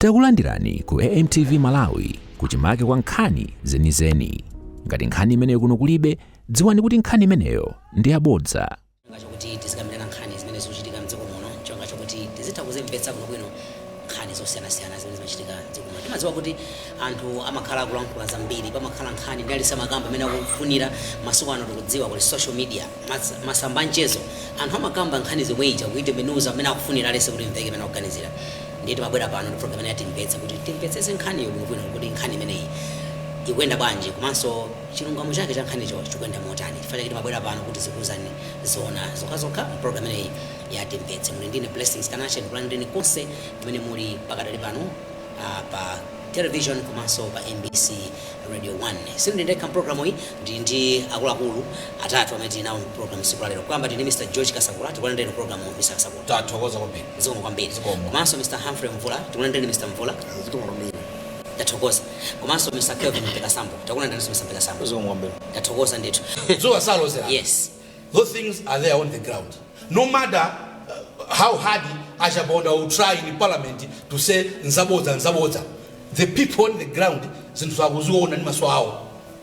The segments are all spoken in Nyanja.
Takulandirani ku AMTV Malawi kuchimake kwa nkhani zenizeni. Ngati nkhani imeneyo kuno kulibe, dziwani kuti nkhani imeneyo ndi yabodza. cholinga chokuti tizikambirana nkhani zimene zikuchitika mdziko muno cholinga chokuti tizitha kuzimvetsa bwinobwino nkhani zosiyanasiyana zimene zimachitika mdziko muno timadziwa kuti anthu amakhala akulankhula zambiri pamakhala nkhani ndiye aliyense amakamba mmene akufunira masiku ano tikudziwa kuti social media mas- masamba anchezo anthu amakamba nkhani yomwe ija kuitembenuza mmene akufunira aliyense kuti imveke mmene akuganizira Ndiye timabwera pano ndi program imene ya Timvetse kuti timvetsetse nkhaniyo bwinobwino kuti nkhani imeneyi ikuyenda bwanji komanso chilungamo chake cha nkhanicho chikuyenda motani. N'chifukwa chake timabwera pano kuti tizikuuzani zoona zokhazokha m'program imeneyi ya Timvetse. Muli ndi ine Blessings Kanache, ndikulandireni konse kumene muli pakadali pano ah, pa television komanso pa MBC Radio 1. Sindili ndekha m'programu iyi, ndili ndi akuluakulu atatu amene tili nawo m'programu tsiku la lero. Kuyamba tili ndi Mr. George Kasakula, tikulandireni programu Mr. Kasakula. Tathokoza kwambiri. zikomo kwambiri Zikomo. komanso mr humphrey mvula tikulandireni mr mvula zikomo kwambiri tathokoza komanso mr kelvin mpekasambo tikulandireni mr mpekasambo zikomo kwambiri tathokoza ndithu dzuwa salozera yes those things are there on the ground no matter uh, how hard a Chaponda will try in parliament to say nzabodza nzabodza the people on the ground zinthu akuziona ndi maso awo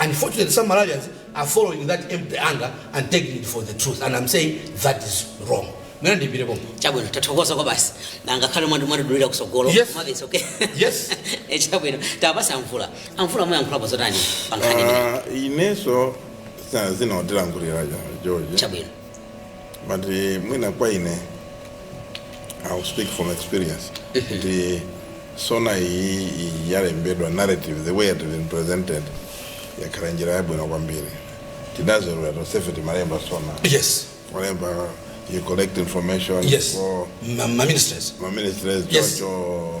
Unfortunately some Malawians are following that empty anger and taking it for the truth and I'm saying that is wrong. Mwina ndiimire pompo. chabwino tathokoza kwabasi ngakhale mwandi mwatidulira kutsogolo Yes. mwamvetsa okay Yes. Eh, chabwino tipatse a Mvula a Mvula muyankhulapo zotani pa nkhani imene Ah, ineso sa- zina watilankhulira ja- george chabwino but eh, mwina kwa ine I'll speak from experience kuti SONA iyi iyi yalembedwa narrative the way it has been presented yakhala njira yabwino kwambiri tidazolowera tonsefe timalemba SONA yes kulemba you collect information Yes. for ma, ma ministers ma ministries Yes. choncho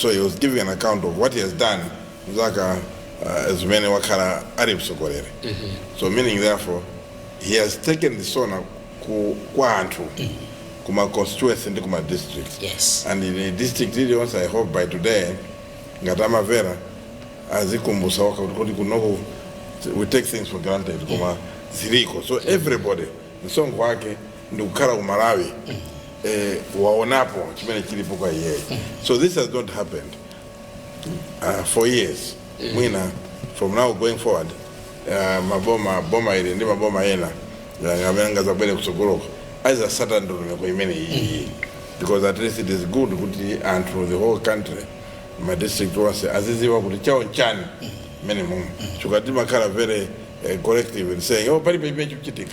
so he was giving an account of what he has done zaka uh, zimene wakhala ali mtsogoleri so meaning therefore he has taken the SONA ku, kwa anthu kuma constituency ndi kuma district Yes. and in a district iliyonse i hope by today ngati amamvera azikumbutsa okha kuti kuti kunoko we take things for granted koma ziliko so everybody msonkho wake ndikukhala ku malawi eh, waonapo chimene chilipo kwa iyeyo so this has not happened uh, for years mwina from now going forward uh, maboma boma ili ndi maboma ena yani amene angadzabwere kutsogoloko adzatsata ndondomeko imene iyi because at least it is good kuti anthu the whole country ma district onse azidziwa kuti chawo nchani mmene mumachita timakhala very eh, collective and saying oh palibe chimene chikuchitika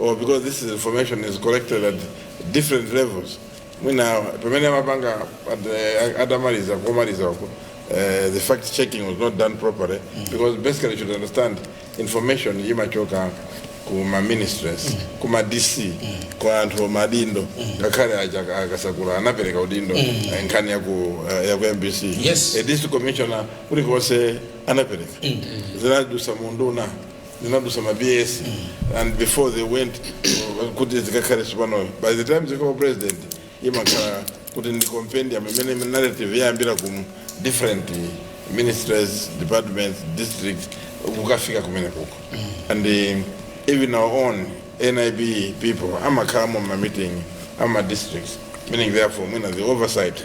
or because this information is collected at different levels mwina pamene amapanga at the- atamaliza komaliza uko eh, the fact checking was not done properly because basically you should understand information imachoka ku ma ministries ku ma dc kwa anthu maudindo ngakhale aja- akasakula anapereka udindo eh, nkhani ya ku eh, ya ku mbc Yes. a district commissioner kulikonse anapereka zinadusa munduna zinadusa ma ps and before they went uh, kuti zikakhale tsopanoyo by the time zika kwa president imakhala kuti ndi compendium imene narrative yayambira ku different ministries departments districts kukafika kumene kuko and um, even our own nib people amakhalamo mma meeting ama districts meaning therefore mwina the oversight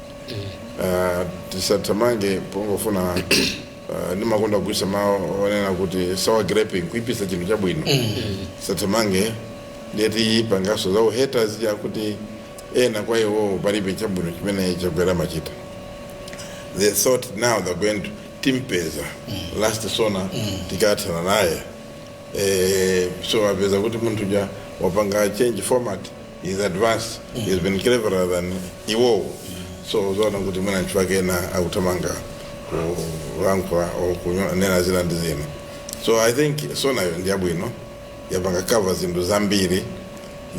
Ah, tisathamange pongofuna ah, ndimakonda kugwiritsa mawu onena kuti sour grapes kuipitsa chinthu chabwino tisathamange ndiyetu pangaso za uhaters ya kuti ena kwa iwowo palibe chabwino chimene chakwera amachita they thought now they're going to timpeza last sona tikathana naye eh, so apeza kuti munthu ja wapanga change format is advanced he has been cleverer than iwowo so uzaona kuti mwina ntchu wake ena akuthamanga kulankhula or kunena zina ndi zina so i think sonayo ndi yabwino yapanga cover zinthu zambiri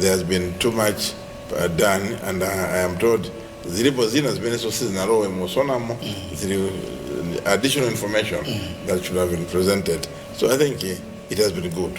there has been too much uh, done and uh, i am told zilipo zina zimenenso sizinalowe mu sonamo zili uh, additional information that should have been presented so i think uh, it has been good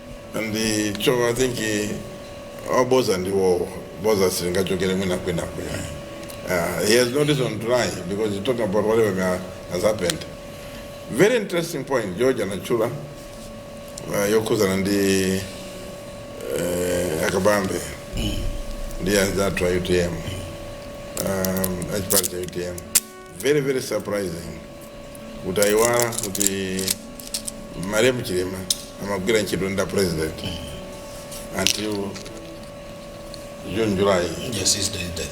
And so I think oboza ndiwowo boza silingachokere mwina kwina kwina. Uh, he has no reason to lie because he's talking about whatever has happened. Very interesting point George anachula uh, yokhuzana ndi uh, akabambe ndi anzathu a UTM um, achipani cha UTM very very surprising kuti ayiwala kuti malemu chilima amagwira ntchito ndi a president until june july Yes, he's dead. dead.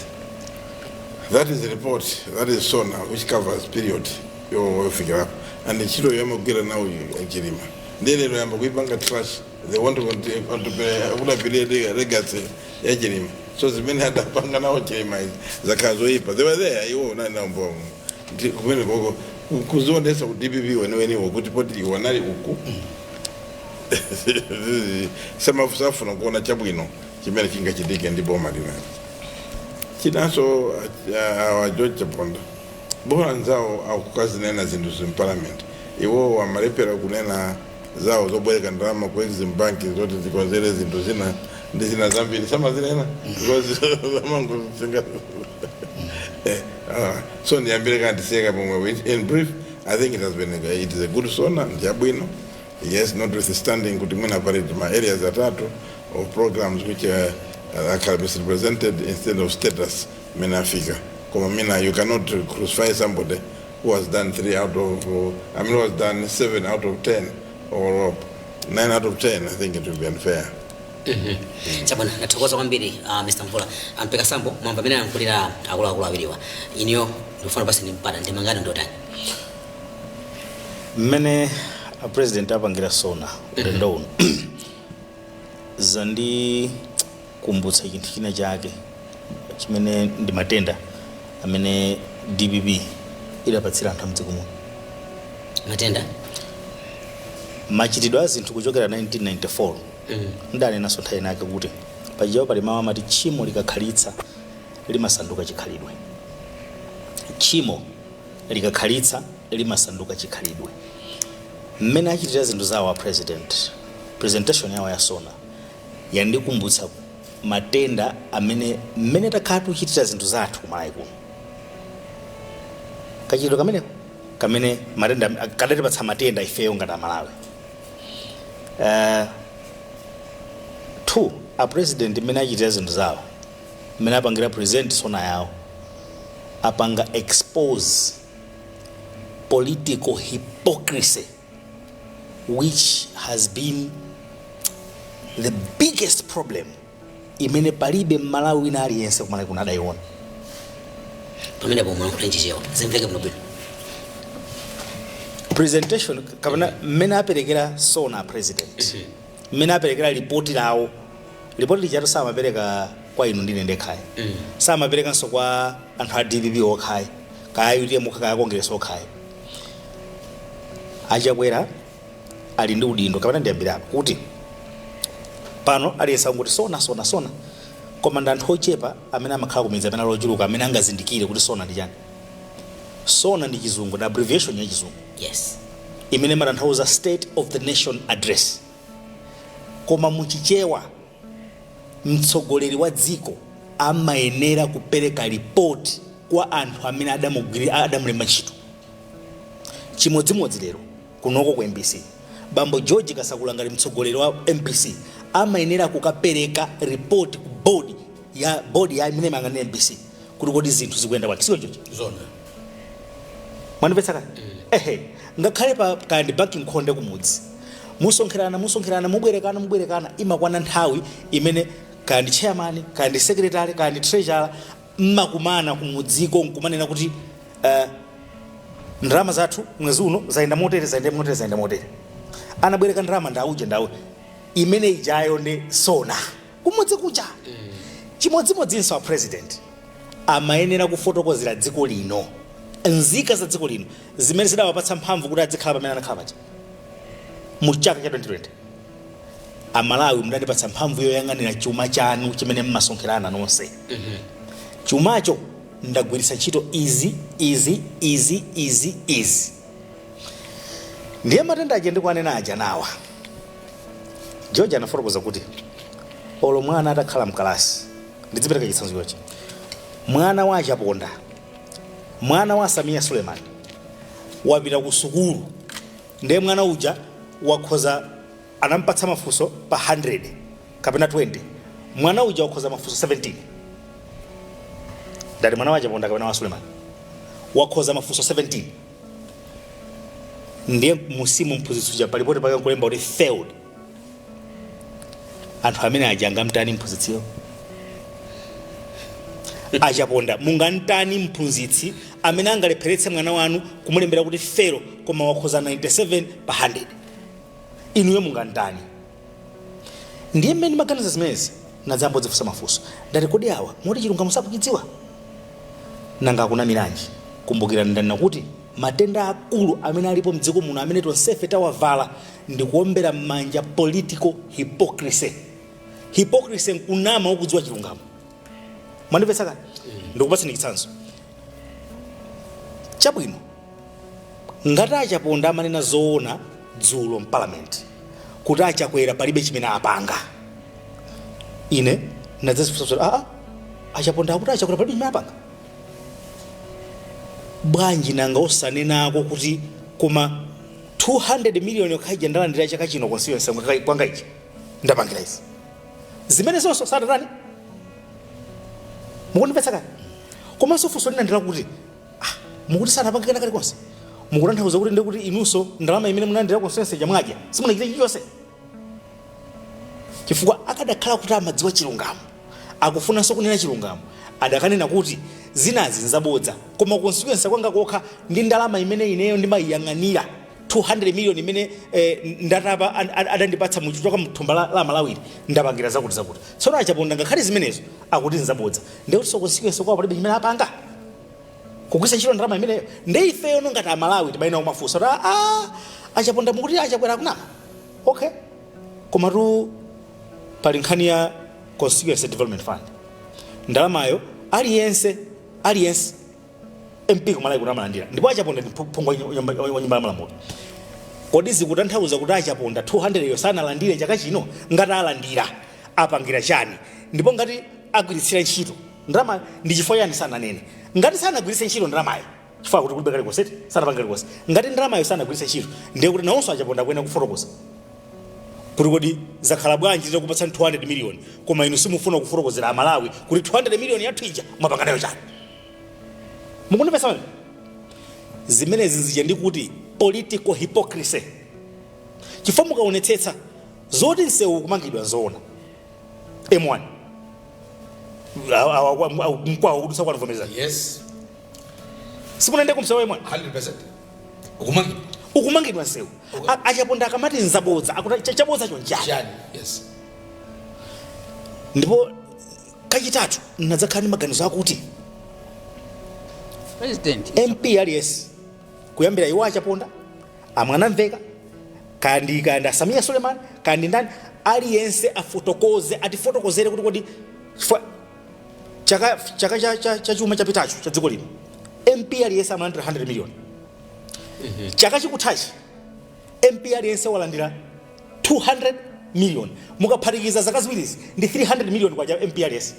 that is the report that is sona, which covers period yofikirapo and ntchito yomwe amagwira nawo chilima ndiye lero yamba kuipanga trash they want to conti- contemporary- akuna period ya legacy ya chilima so zimene adapanga nawo chilima izi zakhala zoyipa they were there iwo anali nawo mbomo ndi kumene koko ku- kuzionesa ku dpp weneweniwo kuti poti iwo anali uku samafuna kuona chabwino chimene chingachitike ndi boma linali chinanso uh, awa george chaponda bora anzawo akukazinena zinthu zi mparliament iwowo amalepera kunena zawo zobwereka ndalama ku exim bank zoti zikonzere zinthu zina ndi zina zambiri samazinena because zamangozinga Ah, so ndiyambire kanthu seka pomwe which in brief i think it has been a, it is a good sona ndiyabwino yes notwithstanding kuti mwina akuti pali ma areas atatu of programs which uh, uh, are misrepresented instead of status mmene afika koma mina you cannot crucify somebody who has done 3 out of uh, I mean, who has done 7 out of 10 or uh, 9 out of 10, I think it will be unfair. chabwino ndathokoza kwambiri uh, mr mvula a Mhango Sambo mwamba amene ayankhulira akuluakulu awiriwa iniyo ndikufuna basi ndipata ndemanga ndi yotani mmene a president apangira sona ulendo uno zandi kumbutsa chinthu china chake chimene ndi matenda amene dpp idapatsira anthu amdziko muno matenda a machitidwe a zinthu kuchokera 1994 mm. ndanenanso nthawi inake kuti pachiyawo pali mawu amati tchimo likakhalitsa limasanduka chikhalidwe tchimo likakhalitsa limasanduka chikhalidwe mmene achitira zinthu zawo a president presentation yawo yasona yandikumbutsa matenda amene mmene takhala tikuchitira zinthu zathu kumalawi kuno kachitidwe kamene kamene matenda kadatipatsa matenda ifeyo ngati amalawi uh, two a president mmene achitira zinthu zawo mmene apangira present sona yawo apanga expose political hypocrisy which has been the biggest problem imene palibe mmalawi wina aliyense kumalawi kuno adayiona pamene pomwe nkuti mchichewa zimveke bwino bwino presentation kapena mmene aperekera sona a president mmene aperekera lipoti lawo lipoti lijatu samapereka kwa inu ndi ine ndekhayi samaperekanso kwa anthu a dpp okhayi kaya utm okha kaya kongeresa okhayi achakwera ali ndi udindo kapena ndiyambire apa kuti pano aliyense akungoti sona sona sona koma ndi anthu ochepa amene amakhala kumidzi amene ali ochuluka amene angazindikire kuti sona ndi chani sona ndi chizungu ndi abbreviation ya chizungu yes imene imatanthauza state of the nation address koma muchichewa mtsogoleri wa dziko amayenera kupereka report kwa anthu amene adamugwiri adamulemba ntchito chimodzimodzi lero kunoko ku mbc bambo george kasakula ngati mtsogoleri wa mbc amayenera kukapereka report ku board ya board ya imene imayang'anira mbc kuti kodi zinthu zikuyenda bwanji si choncho SONA mwandimvetsa kani ehe ngakhale pa kaya ndi banki m'khonde kumudzi musonkherana musonkherana mubwerekana mubwerekana imakwana nthawi imene kaya ndi chairman kaya ndi secretary kaya ndi treasurer mmakumana kumudziko nkumanena kuti eh, ndalama zathu mwezi uno zayenda motere zayenda motere zayenda motere anabwereka ndalama ndauje ndauje imene ijayo ndi SONA kumudzi kuja chimodzimodzinso a president amayenera kufotokozera dziko lino nzika za dziko lino zimene zidawapatsa mphamvu kuti adzikhala pamene anakhala paja mu chaka cha 2020 amalawi mudandipatsa mphamvu yoyang'anira chuma chanu chimene mmasonkherana nonse chumacho ndagwiritsa ntchito izi izi izi izi izi ndiye matenda aja ndikuwanena aja nawa George anafotokoza kuti, Olo mwana atakhala m'kalasi, ndidzipereka chitsanzo chochi, mwana wa a Chaponda, mwana wa a Sameer Suleman wapita kusukulu ndiye mwana uja wakhoza anamupatsa mafunso pa 100 kapena 20 mwana uja wakhoza mafunso 17 ndati mwana wa a Chaponda kapena wa Suleman wakhoza mafunso 17 ndiye musimu mphunzitsi uja pa lipoti pake nkulemba kuti failed anthu amene aja angamtani mphunzitsiyo achaponda mungamtani mphunzitsi amene angalepheretse mwana wanu kumulembera kuti fail koma wakhoza 97 pa 100 inuyo mungamtani Ndiye mmene ndimaganiza zimenezi, ndinadzayamba kudzifunsa mafunso. Ndati, Kodi awa moti chilungamo sakuchidziwa? Nanga akunamiranji? Kumbukirani ndanena kuti matenda aakulu amene alipo m'dziko muno amene tonsefe tawavala ndi kuombera m'manja political hypocrisy. Hypocrisy n'kunama ukudziwa chilungamo. mwandimvetsa kani ndikupatseni chitsanzo chabwino ngati achaponda amanena zoona dzulo mpalamenti kuti achakwera palibe chimene apanga ine ndinadzadzifunsafunsa aa achaponda akuti achakwera palibe chimene apanga bwanji nanga osanenako kuti koma 200 miliyoni yokha ija ndalandira chaka chino constituency kwanga ichi ndapangira izi zimenezonso sadatani mukundimvetsa kani komanso funso lina ndilakuti ah, mukuti sanapange kena kalikonse mukutanthauza kuti ndikuti inunso ndalama imene munalandira constituency chamwadya simunachita chilichonse chifukwa akadakhala kuti amadziwa chilungamo akufunanso kunena chilungamo adakanena kuti zinazi nzabodza koma constituency kwanga kokha ndi ndalama imene ineyo ndimayiyang'anira 200 million imene eh, ndatapa an- an- adandipatsa muchitoka mthumba la, la malawi ndapangira zakuti zakuti tsono achaponda ngakhale zimenezo akuti nzabodza ndekuti ku constituency kwawo palibe chimene apanga kugwiritsa ntchito ndalama imeneyo nde ifeyo nongati amalawi timayenera kumafunsa kuti "Ah, achaponda mukuti achakwera akunama okay komatu pali nkhani ya constituency development fund ndalamayo aliyense aliyense MP kumalawi kuno amalandira ndipo achaponda ndi phu- phungu wa nyu- nyumba- wa nyumba ya malamulo kodi zikutanthauza kuti achaponda 200 yo sanalandire chaka chino ngati alandira apangira chani ndipo ngati agwiritsira ntchito ndalama ndi chifukwa chani sananene ngati sanagwiritse ntchito ndalamayo chifukwa kuti kulibe kalikonse sanapange kalikonse ngati ndalamayo sanagwiritse ntchito ndiye kuti nawonso achaponda akuyenera kufotokoza kuti kodi zakhala bwanji titakupatsani 200 miliyoni koma inu simufuna kufotokozera amalawi kuti 200 miliyoni yathu ija mwapanga nayo chani mukundimvetsa mani zimenezi zija ndi kuti political hypocrisy chifukwa mukaonetsetsa zoti msewu ukumangidwa nzoona m1 Awa- awa- awa- mkwawo kudutsa kwanu vomerezani yes simunaende kumsewu m1 100% ukumangidwa ukumangidwa nsewu A- achaponda akamati nzabodza akuti cha- chabodza chonchi chani yes ndipo kachitatu nadzakhala ndi maganizo akuti president mp aliyense kuyambira iwo achaponda amwanamvekha kaya ndi kaya ndi asameer suleman kaya ndi ndani aliyense afotokoze atifotokozere kuti kodi chifukwa chaka chaka cha, cha, cha chuma chapitacho cha dziko lino mp aliyense amalandira 100 million chaka chikuthachi mp aliyense walandira 200 million mukaphatikiza zaka ziwirizi ndi 300 million kwa mp aliyense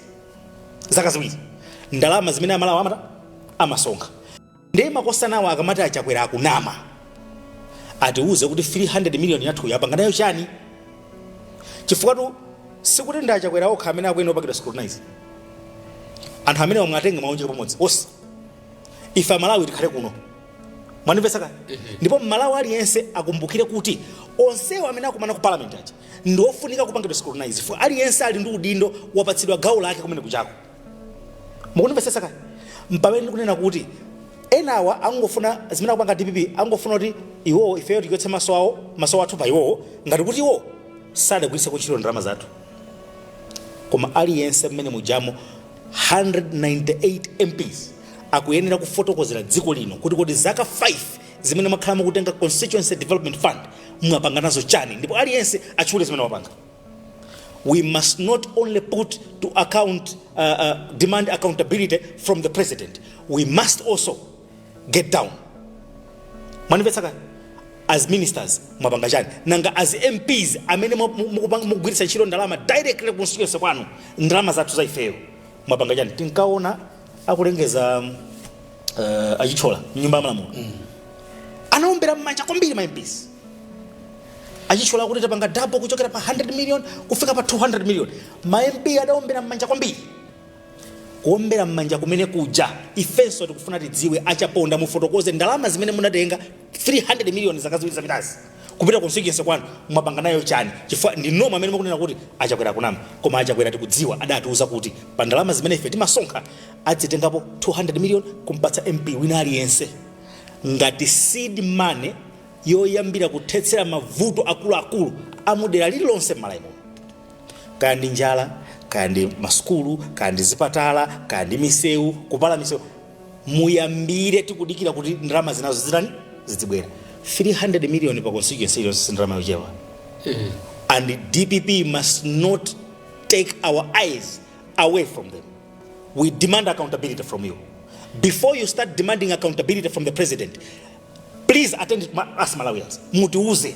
zaka ziwiri ndalama zimene amalawi amata amasonkha Ndiye makosanawo akamati a Chakwera akunama, atiuze kuti 300 million yathuyo apanga nayo chani? Chifukwatu sikuti ndi a Chakwera okha amene akuyenera kupangidwa scrutinize. Anthu amenewa muwatenge muwaunjike pamodzi onse. Ife Amalawi tikhale kuno. Mwandimvetsa kaya? Ndipo Mmalawi aliyense akumbukire kuti onsewo amene akumana ku parliament aja ndi ofunika kupangidwa scrutinize. Chifukwa aliyense ali ndi udindo wapatsidwa gawo lake kumene kuchako. mukundimvetsa kaya mpamene ndikunena kuti enawa angofuna zimene akupanga dpp angofuna kuti iwowo ifeyo tichotse maso awo maso athu pa iwowo ngati kuti iwowo sadagwiritseko ntchito ndalama zathu koma aliyense mmene mujamo 198 mps akuyenera kufotokozera dziko lino kuti kodi zaka 5 zimene mwakhala mukutenga constituency development fund mwapanga nazo chani ndipo aliyense atchule zimene wapanga we must not only put to account uh, uh, demand accountability from the president we must also get down mwanimvetsa ka as ministers mwapanga chani nanga as mps amene mwa- mu- mukupanga- mukugwiritsa ntchito ndalama directly constituency kwanu ndalama zathu za ifeyo mwapanga chani tinkaona akulengeza uh, achitchola mnyumba yamalamulo anaombera mmanja kwambiri ma mps achitchola kuti tapanga dabo kuchokera pa 100 million kufika pa 200 million ma mp adaombera mmanja kwambiri kuombera mmanja kumene kuja ifenso tikufuna tidziwe achaponda mufotokoze ndalama zimene mudatenga 300 million zaka ziwiri zapitazi kupita constituency kwanu mwapanga nayo chani chifukwa ndinu omwe amene mukunena kuti achakwera akunama koma achakwera tikudziwa adatiuza kuti pa ndalama zimene ife timasonkha adzitengapo 200 million kumpatsa mp wina aliyense ngati seed money yoyambira kuthetsera mavuto akuluakulu amudera lililonse m'malawi muno kaya ndi njala kaya ndi masukulu kaya ndi zipatala kaya ndi misewu kupala misewu muyambire tikudikira kuti ndalama zinazo zitani zidzibwera 300 million pa constituency iliyonse si ndalama yochepa and dpp must not take our eyes away from them we demand accountability from you before you start demanding accountability from the president please attend to ma- us malawians mutiuze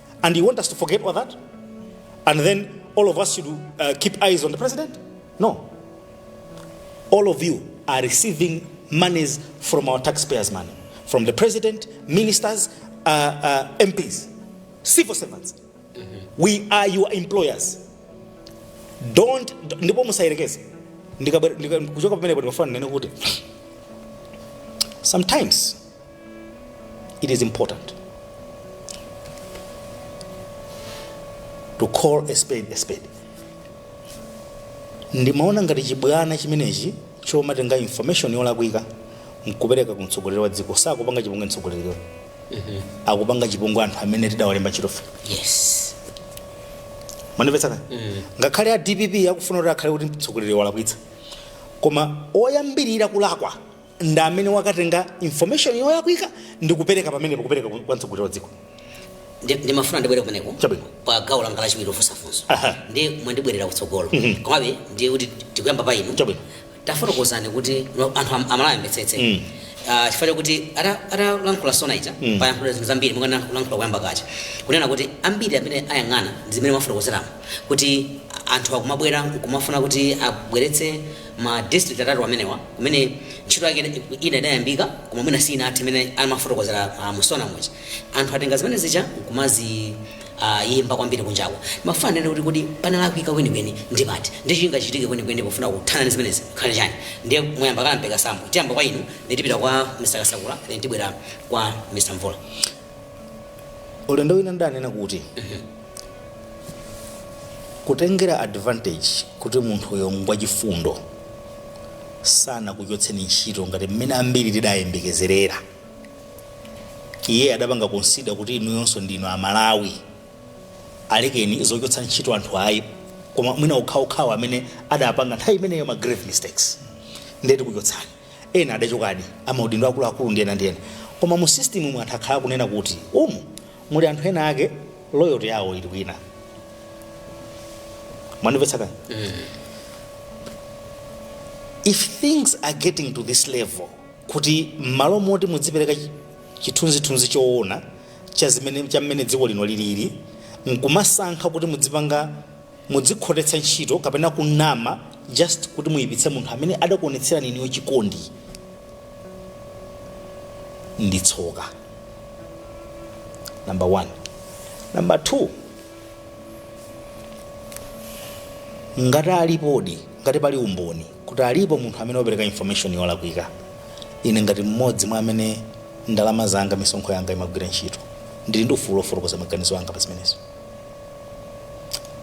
And you want us to forget all that? And then all of us should uh, keep eyes on the president? No. All of you are receiving monies from our taxpayers' money, from the president, ministers, uh, uh, MPs, civil servants. We are your employers. Don't, ndipo musayerekeze Ndikabwe- ndika- kuchoka pamenepo ndikafuna ndinene kuti sometimes it is important to call a spade a spade ndimaona ngati chibwana chimenechi chomatenga information yolakwika nkupereka ku mtsogoleri wa dziko sakupanga chipongwe mtsogoleriyo akupanga chipongwe anthu amene tidawalemba ntchitofe yes mwanimvetsa ka ngakhale a dpp akufuna kuti akhale kuti mtsogoleri walakwitsa koma oyambirira kulakwa ndi amene wakatenga information yolakwika ndi kupereka pamenepo kupereka ku- kwa mtsogoleri wa dziko Ndi- ndimafuna ndibwere kumeneko Chabwino. pa gawo langa lachiwiri lofunsa funso Aha. ndi mwandibwerera kutsogolo komabe ndi kuti tikuyamba pa inu Chabwino. tafotokozani kuti no, anthu am- amalawi amvetsetse Mm. Ah, chifukwa chakuti ata- atalankhula sona ija payankhulidwa zinthu zambiri monga ndalankhula kuyamba kuja kunena kuti ambiri amene ayang'ana ndi zimene mwafotokozeramo kuti anthu akumabwera kumafuna kuti abweretse ma district atatu amenewa kumene ntchito yake ina- ina idayambika koma mwina sinathe imene amafotokozera uh, musona muja anthu atenga zimene zija nkumazi uh, yimba kwambiri kunjako ndimafuna ndinene kuti kuti panalakwika kwenikweni ndi pati ndi chingachitike kwenikweni pofuna kuthana ndi zimenezi nkukhala chani ndiye muyamba kala mpeka sambo tiyamba kwa inu ndi tipita kwa mr kasakula ndi tibwera kwa mr mvula ulendo wina ndinanena kuti kutengera advantage kuti munthuyo ngwachifundo sanakuchotseni ntchito ngati mmene ambiri tidayembekezerera iye adapanga consider kuti inuyonso ndinu amalawi alekeni zochotsa ntchito anthu ayi koma mwina okhaokhawa amene adapanga nthawi imeneyo ma grave mistakes nde tikuchotsani ena adachokadi amaudindo akuluakulu ndi ena ndi ena koma mu system mu anthu akhala akunena kuti umu muli anthu ena ake loyalty yawo ili kwina mwandimvetsa kani if things are getting to this level kuti mmalo moti mudzipereka chi- chithunzithunzi choona cha zimene cha mmene dziko lino lilili nkumasankha kuti mudzipanga Mudzikhotetsa ntchito kapena kunama just kuti muipitse munthu amene adakuonetserani inuyo chikondi ndi tsoka number one. Number two, ngati alipodi, ngati pali umboni kuti alipo munthu amene wapereka information yolakwika, ine ngati mmodzi mwa amene ndalama zanga misonkho yanga imagwira ntchito ndili ndi ufulu wofotokoza maganizo anga pa zimenezo.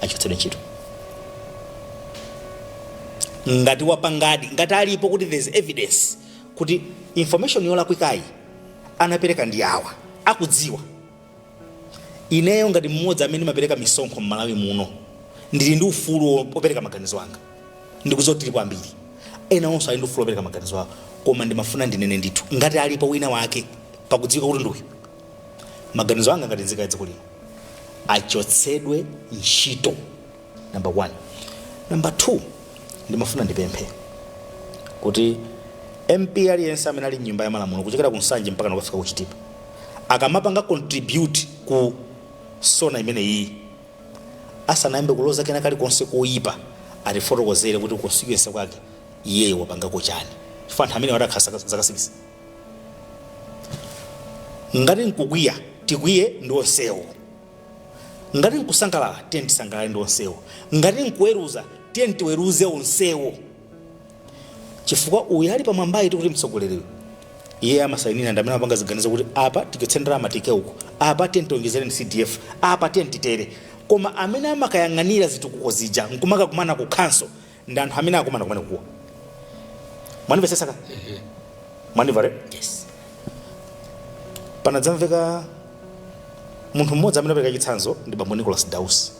achotsedwe ntchito ngati wapangadi ngati alipo kuti there's evidence kuti information yolakwikayi anapereka ndi awa akudziwa ineyo ngati mmodzi amene ndimapereka misonkho m'malawi muno ndili ndi ufulu wo- wopereka maganizo anga ndikudziwa kuti tilipo ambiri ena onso ali ndi ufulu wopereka maganizo awo koma ndimafuna ndinene ndithu ngati alipo wina wake pakudziwika kuti ndi uyu maganizo anga ngati nzika ya dziko lino achotsedwe ntchito number one number two ndimafuna ndipemphe kuti mp aliyense amene ali mnyumba ya malamulo kuchokera ku nsanje mpaka nakufika ku chitipa akamapanga contribute ku sona imeneyi asanayambe kuloza kena kalikonse koyipa atifotokozere kuti constituency kwake iyeyo wapangako chani chifukwa anthu amene wa akhala zaka 6 ngati nkukwiya tikwiye ndi onsewo ngati nkusangalala tiye tisangalale ndi onsewo ngati nkuweruza tiye tiweruze onsewo chifukwa uyu ali pamwambayi tikuti mtsogoleriyo iye amasayinira ndi amene amapanga ziganizo kuti apa tichotse ndalama tiike uko apa tiye tiwonjezereni cdf apa tiye titere koma amene amakayang'anira zitukuko zija nkumakakumana ku council ndi anthu amene akumana kumeneku awa mwandimvetsetsa ka mwandimva re yes panadzamveka munthu mmodzi amene apereka chitsanzo ndi bambo nicholas dausi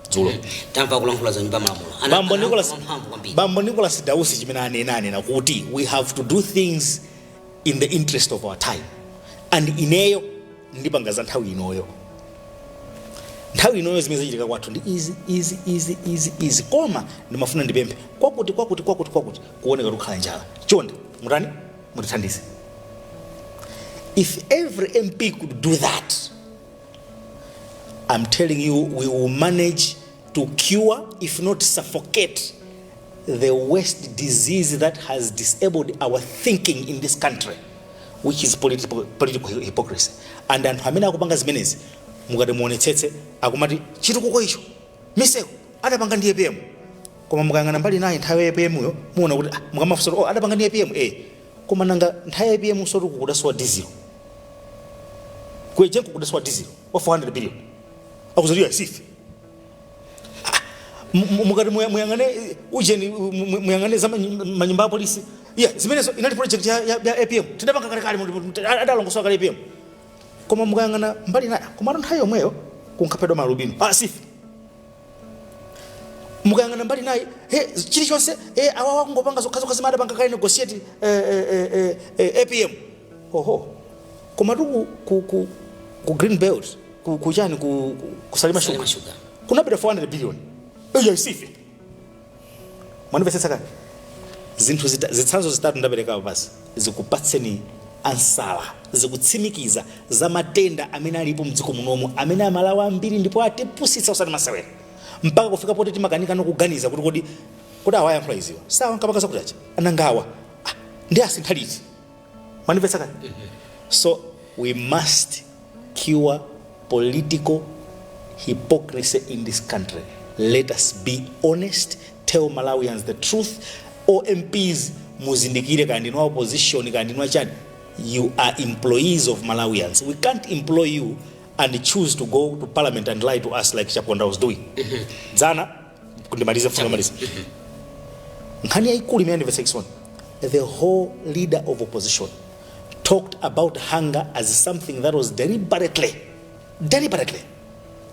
dzulo tamva akulankhula mnyumba ya malamulo Ana- bambo ana- nicholas mphamvu kwambiri bambo nicholas dausi chimene anena anena kuti we have to do things in the interest of our time and ineyo ndipanga za nthawi inoyo nthawi inoyo zimene zachitika kwathu ndi izi izi izi izi izi koma ndimafuna ndipemphe kwakuti kwakuti kwakuti kwakuti kuoneka tikukhala njala chonde mutani mutithandize if every mp could do that i'm telling you we will manage to cure if not suffocate the worst disease that has disabled our thinking in this country which is political, political hypocrisy and anthu amene akupanga zimenezi mukati muonetsetse akumati chitukuko icho misewu adapanga ndi apm koma mukayang'ana mbali inayi nthawi ya apm yo muwona kuti ah, mukamafunsa kuti, oh, adapanga ndi apm eh koma nanga nthawi ya apm sotu kudasowa dizilo kuejenko kudasowa dizilo wa 400 billion zimenezo tiwaisiye Mu- mu- mukati muya- muyang'ane eh, ujeni mu- mu- muyang'ane za manyi- manyumba a polisi eya zimenezo inali project ya, ya, ya apm tidapanga kalekale mu- mu- ti- adalongosola kale apm koma mukayang'ana mbali inayi komatu nthawi yomweyo kunkaphedwa ma alubino asife mukayang'ana mbali inayi he chilichonse he awawa kungopanga zokhazokha zimene adapanga kale negotiate eh, eh, eh, eh, eh, apm oho komatu ku, ku, ku, ku green belt ku, ku chani ku, ku, ku salima Salima shuga Sugar. kunabedwa 400 billion eyo isife mwandimvetsetsa kani zinthu zita, zitsanzo zitatu ndaperekapo basi zikupatseni ansa zikutsimikiza za matenda amene alipo mdziko munomu amene amalawi ambiri ndipo atipusitsa usati masewera mpaka kufika poti timakanika no kuganiza kuti kodi kodi awa ayankhula iziwa si awa ankapanga zakuti aja nanga awa ah, ndi asintha liti manimvetsa kani so we must cure political hypocrisy in this country let us be honest tell malawians the truth omps muzindikire kaya ndinu opposition kaya ndinu achani you are employees of malawians we can't employ you and choose to go to parliament and lie to us like chaponda was doing dzana kundimaliza mfundo maliza nkhani yaikulu imene andimvetsa chisoni the whole leader of opposition talked about hunger as something that was deliberately deliberately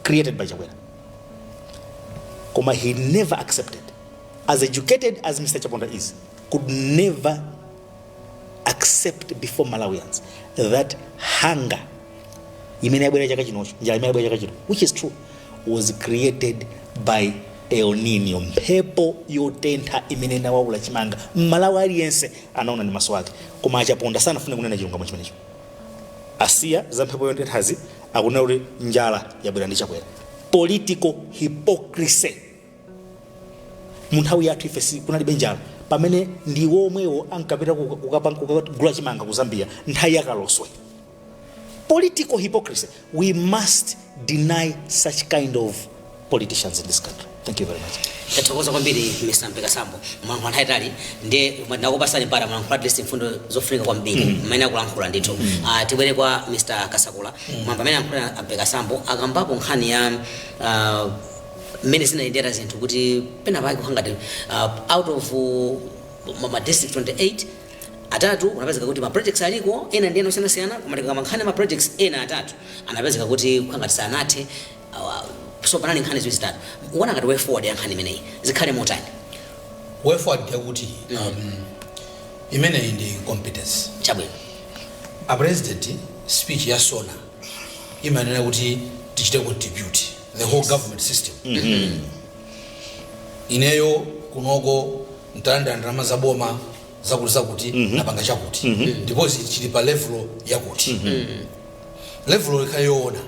created by chakwera koma he never accepted as educated as mr chaponda is could never accept before malawians that hunger imene yabwera chaka chinochi njala imene yabwera chaka chino which is true was created by el nino mphepo yotentha imene inawaula chimanga mmalawi aliyense anaona ndi maso ake koma a Chaponda sanafune kunena chilungamo chimenecho asiya za mphepo yotenthazi akunena kuti njala yabwera ndi Chakwera political hypocrisy mu nthawi yathu ife si- kunalibe njala pamene ndiwo omwewo ankapita kuka- kukapa- kukagula chimanga ku zambia nthawi ya Kaloswe political hypocrisy we must deny such kind of politicians in this country thank you very much tathokoza kwambiri mr mpekasambo mwalankhula nthawi yaitali ndi ndakupatsani mpata mwalankhula at least mfundo zofunika kwambiri mmene akulankhula ndithu Ah, tibwere kwa mr kasakula mwamva mmene ayankhula mpekasambo akambapo nkhani ya ah, mmene zinayendera zinthu kuti pena pake kukhala ngati uh, out of uh, ma- ma district 28 atatu anapezeka kuti ma projects aliko ena ndi ena osiyanasiyana koma tikakamba nkhani ya ma projects ena atatu anapezeka kuti kukhala ngati sanathe uh, so panali nkhani ziwiri zitatu muona ngati way forward ya nkhani imeneyi zikhale motani way forward yakuti um, imeneyi ndi competence chabwino a president speech ya sona imanena kuti tichite contribute the whole government system ineyo kunoko ndalandira ndalama za boma zakuti zakuti ndapanga chakuti ndipo zi- chili pa level yakuti level ikhale yoona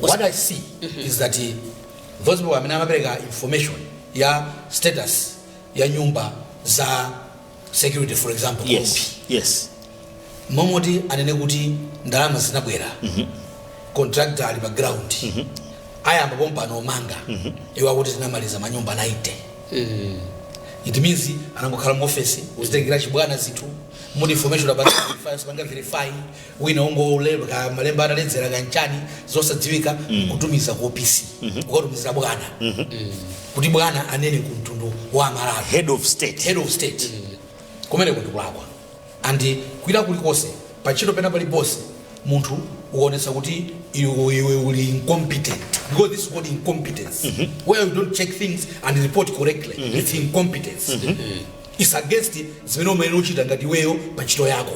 what i see is that eh, those people amene amapereka information ya status ya nyumba za security for example yes kumpi yes momoti anena kuti ndalama zinabwera contractor ali pa ground ayamba pompano omanga iwo akuti tinamaliza manyumba 90 it means anangokhala mu office kuzitengera chibwana zinthu muli information about verify osapanga verify wina ongolemba malemba ataledzera kaya nchani zosadziwika kutumiza ku opc kukatumizira bwana kuti bwana anene ku mtundu wa amalawi head of state head of state kumeneko ndi kulakwa and kwina kulikonse pantchito pena paliponse munthu ukaonetsa kuti iwe iwe uli incompetent because this is called incompetence where you don't check things and report correctly it's incompetence it's against zimene umayenera uchita ngati iweyo pantchito yako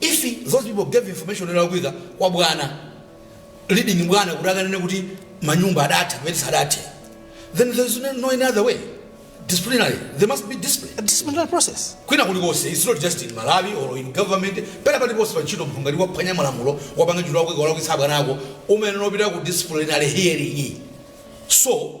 If those people gave information yolakwika kwa bwana leading bwana kuti akanene kuti manyumba adatha kumene sadathe then there is no, no any other way disciplinary there must be discipline A disciplinary process. kwina kulikonse its not just in malawi or in government pena paliponse pa ntchito munthu ngati waphwanya malamulo wapanga ntchito yolakwika walakwitsa abwana ako umayenera upita ku disciplinary hearing so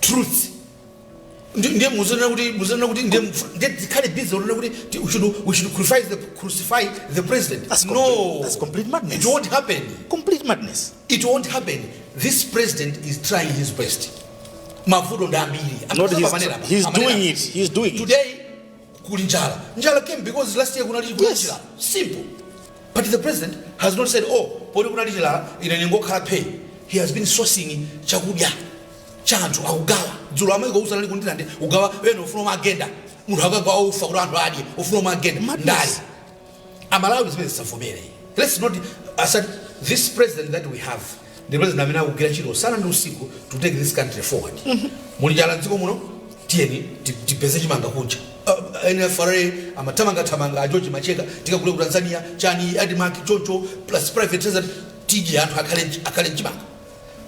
truth Ndi- ndiye muzinena kuti muzinena kuti ndiye mfa- ndiye tikhale busy unena kuti ti- we should we should crucify the crucify the president That's no complete- that's complete madness. it won't happen complete madness it won't happen this president is trying his best mavuto ndi ambiri Not his- Apanera, he's apanera. doing it. He's doing it. today kuli njala njala came because last year kunali kunali Yes. chilala simple but the president has not said oh poti kunali chilala ine ndingokhala phee he has been sourcing chakudya cha anthu akugawa dzulo a Michael Usi anali ku Ndirande kugawa ena ufuna uone agenda munthu akagawa ufa kuti anthu adye ufuna uone agenda Madness. ndali Amalawi zimenezi tisavomere. Let's not accept this president that we have ndi president amene akugwira ntchito usana ndi usiku to take this country forward. Muli njala m'dziko muno? Tiyeni tipeze chimanga kunja. A NFRA amathamangathamanga, a George Macheka tikagule ku Tanzania, chani, Admarc choncho plus private sector tidye anthu akhale n'chimanga.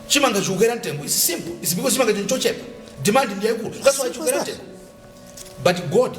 Chimanga chikukwera mtengo it's simple. It's because chimanga n'chochepa. Demand ndi yaikulu. That's why chikukwera mtengo. But God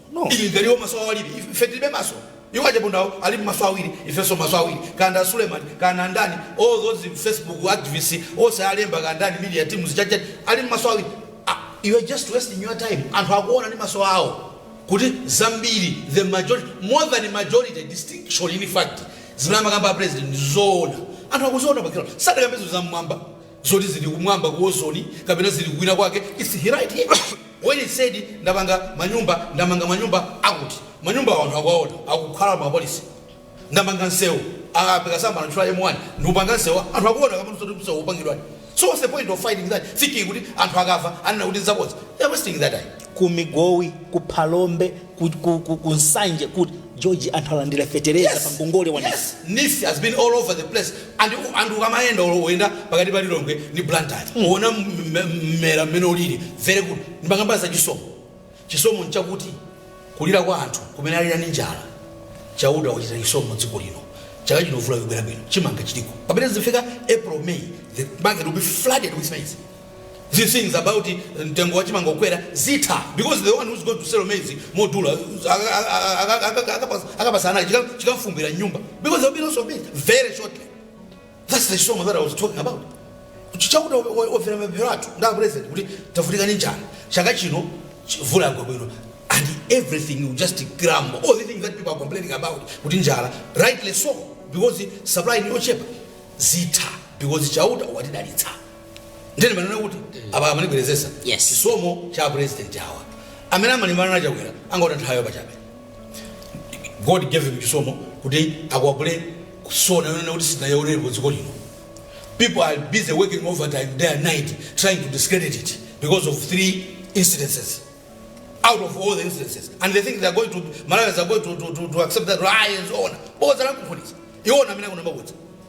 ngati ali iwo maso awiri ife tilibe maso iwo a Chaponda awo ali maso awiri ifenso maso awiri kaya Suleman kaya ndani all those facebook activists onse alemba kaya ndani media teams chachacha ali maso awiri ah, you are just wasting your time anthu akuona ndi maso awo kuti zambiri the majority more than majority distinction in fact zimene amakamba a president zoona anthu akuziona bakira sadakambe zoti za mmwamba zoti zili kumwamba ku ozoni kapena zili kwina kwake it's right here when he said ndapanga manyumba ndamanga manyumba akuti manyumbawo anthu akuwaona akukhalamo apolice ndamanga nsewu ape Kasamba anatchula m1 ndikupanga nsewu anthu akuona kamene zoti msewu ukupangidwa so what's the point of fighting that thinking kuti anthu akamva anena kuti nzabodza they're wasting their time ku migowi ku phalombe ku, ku, ku, ku nsanje kuti george anthu alandira fetereza pa ngongole wa NEEF Yes, NEEF has been all over the place and and ukamayenda olo oyenda pakati pa lilongwe ndi blantyre uona m- m- mmera mmene ulili very good ndimakamba za chisomo chisomo nchakuti kulira kwa anthu kumene alira ndi njala chauta wachita chisomo dziko lino chaka chino vula yobwera bwino chimanga chiliko pamene zifika april may the market will be flooded with maize these things about mtengo wa chimanga kukwera zitha because the one who's going to sell maize modula aka- aka- aka- aka- akapasa- akapasa anali chika- chikafumbwira nyumba because there'll be lots of maize very shortly that's the chisomo that i was talking about Chauta omvera mapemphero athu ndi a president kuti tavutika ni njala chaka chino ch- vula yagwa bwino and everything you just grumble all the things that people are complaining about kuti njala rightly so because supply ni yochepa zitha because chauta watidalitsa nde nimanena kuti apa nimabwerezanso chisomo cha president awa amene amalimbana na chakwera angotaya nthawi pachabe god gave him chisomo kuti akwapule ku SONA yonena kuti sinayaonerepo dziko lino people are busy working overtime day and night trying to discredit it because of three incidences out of all the incidences and they think they're going to malawians are going to, to, to, to accept that lies onama boza lakuphunisa iwowo amene akunama kuti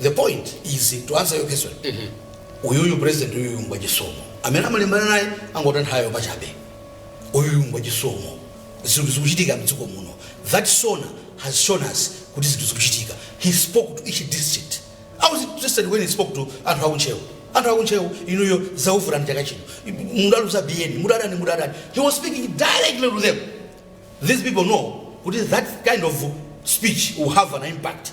The point is to answer your question. Uyuyu president uyuyu ngwachisomo. Amene amalimbana naye angotaya nthawi pachabe. Uyuyu ngwachisomo. Zinthu zikuchitika mdziko muno. That Sona has shown us kuti zinthu zikuchitika. He spoke to each district. I was interested when he spoke to anthu aku Ntcheu. Anthu aku Ntcheu inuyo zavuta mchaka chino. Mudaluza 10 billion, mudadani mudadani. He was speaking directly to them. These people know kuti that kind of speech will have an impact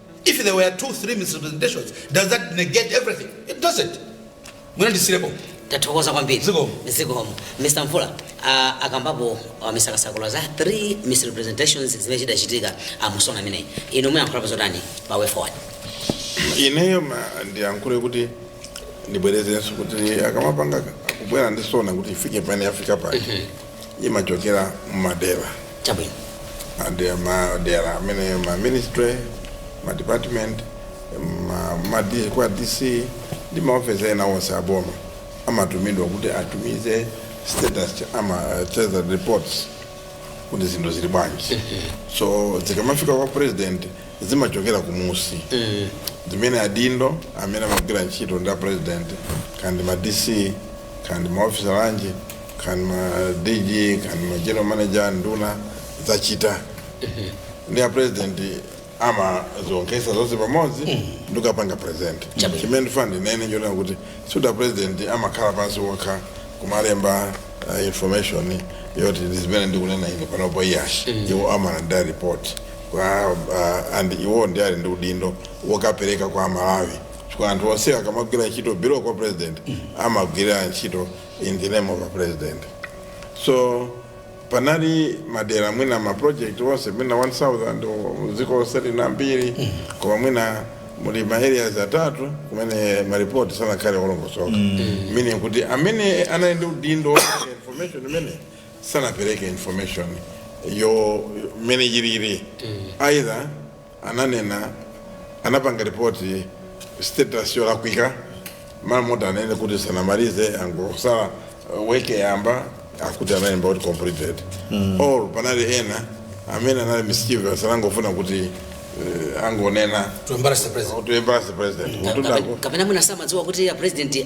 If there were two, three misrepresentations, does that negate everything? It doesn't. Mwina ndisiyire pomwepo. tathokoza kwambiri Zikomo. zikomo mr mvula uh, akambapo uh, mr kasakula za three misrepresentations zimene zidachitika mu Sona imeneyi inu muyankhulapo zotani pa way forward ineyo ma- ndiyankhule kuti ndibwerezenso kuti akamapanga kubwera ndi sona kuti ifike pamene yafika pake imachokera mmadera chabwino madera madera amene ma ministry ma department ma, ma D, kwa dc ndi maofisa ena onse aboma amatumidwa kuti atumize status cha- ama uh, treasury reports kuti zinthu zili bwanji so zikamafika kwa president zimachokera kumunsi zimene adindo amene amagwira ntchito ndi a president kandi ma dc kandi maofisa lanji kandi ma dg kandi ma general manager nduna zachita ndi a president amazisonkhetsa zonse pamodzi ndikapanga present Chabwino. chimene ndifuna ndinene njonena kuti sikuti president amakhala pansi okha kumalemba uh, information yoti ndi zimene ndikunena ine panopo iyayi iwo amalandira report kwa uh, and iwo ndi ali ndi udindo wokapereka kwa amalawi chifukwa anthu onse akamagwira ntchito below kwa president amagwira ntchito in the name of a president so panali madera mwina ma project onse mwina 1000 o- dziko lonse lina mbiri koma mwina muli ma areas atatu kumene maripoti sanakhale olongosoka meaning kuti amene anali ndi udindo wopereka information imene sanapereke information yo mene yilili either ananena anapanga ripoti status yolakwika mmalo moti anene kuti sanamalize angotsala uh, weke yamba akuti analemba kuti completed mm. or panali ena amene anali mischievous anangofuna kuti uh, angonena to embarrass the president to embarrass the president Kapena- kutundako kapena mwina samadziwa kuti a president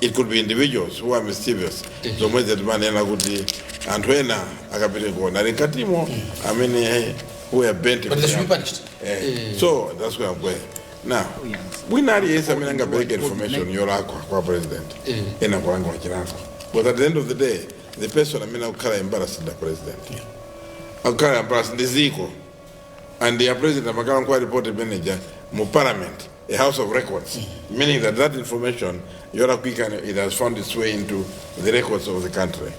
it could be individuals who are mischievous ndi zomwe timanena kuti anthu ena akapitikuwona ali mkatimo amene who are bent But they should be punished. Eh, so that's where I'm going now mwina aliyense amene anapereka information yolakwa kwa president ayenera kulandira chilango but at the end of the day the person amene akukhala embarrassed ndi a president akukhala embarrassed ndi dziko and a president amakhala nkuwa report manager mu parliament a house of records, meaning that that information, yolakwika, it has found its way into the records of the country.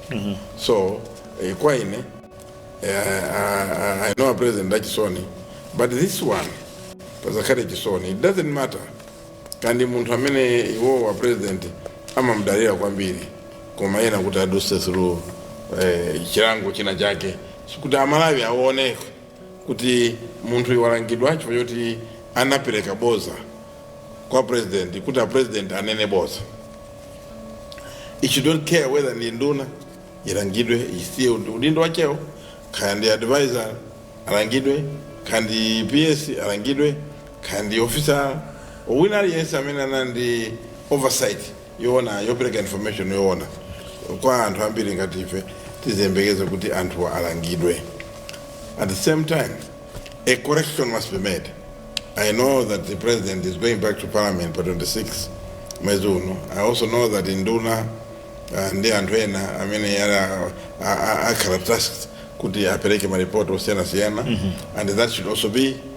So, eh, kwa ine, eh, I, I- I know President did a SONA, but this one, pazakale chisoni, it doesn't matter. kaya ndi munthu amene iwo a president amamdalira kwambiri koma ayenera kuti aduse through eh, chilango china chake kuti amalawi aone kuti munthuyu walangidwa chifukwa choti anapereka boza kwa president kuti a president anene boza ichi I don't care whether ndi nduna ilangidwe isiye udindo wachewo kaya ndi advisor alangidwe kaya ndi ps alangidwe kaya ndi officer wina aliyense amene anali ndi oversight yowona yopereka information yowona kwa anthu ambiri ngati ife tiziyembekeza kuti anthuwa alangidwe at the same time a correction must be made i know that the president is going back to parliament pa 26 mwezi uno i also know that induna uh, ndi anthu ena amene yala- a- a- akhala tasked kuti apereke maripoti osiyanasiyana and that should also be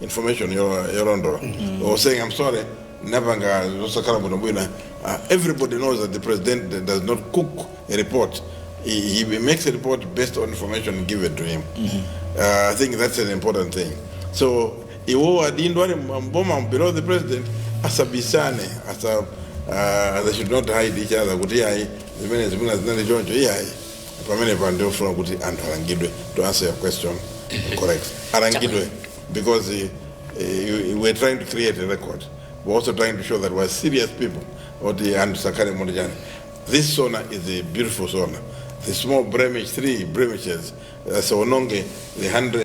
information yolo- yolondola or saying i'm sorry tapanga zosakhala bwinobwino uh, everybody knows that the president does not cook a report he, he makes a report based on information given to him uh, i think that's an important thing so iwo adindo ali mboma below the president asabisane asa uh, they should not hide each other kuti ayi zimene zimene zinali choncho iyayi pamenepa ndiyofuna kuti anthu alangidwe to answer your question correct alangidwe because eh, you- we're trying to create a record we're also trying to show that we're serious people oti anthu sakhale muti chani this sona is a beautiful sona the small blemish three blemishes asaononge the hundred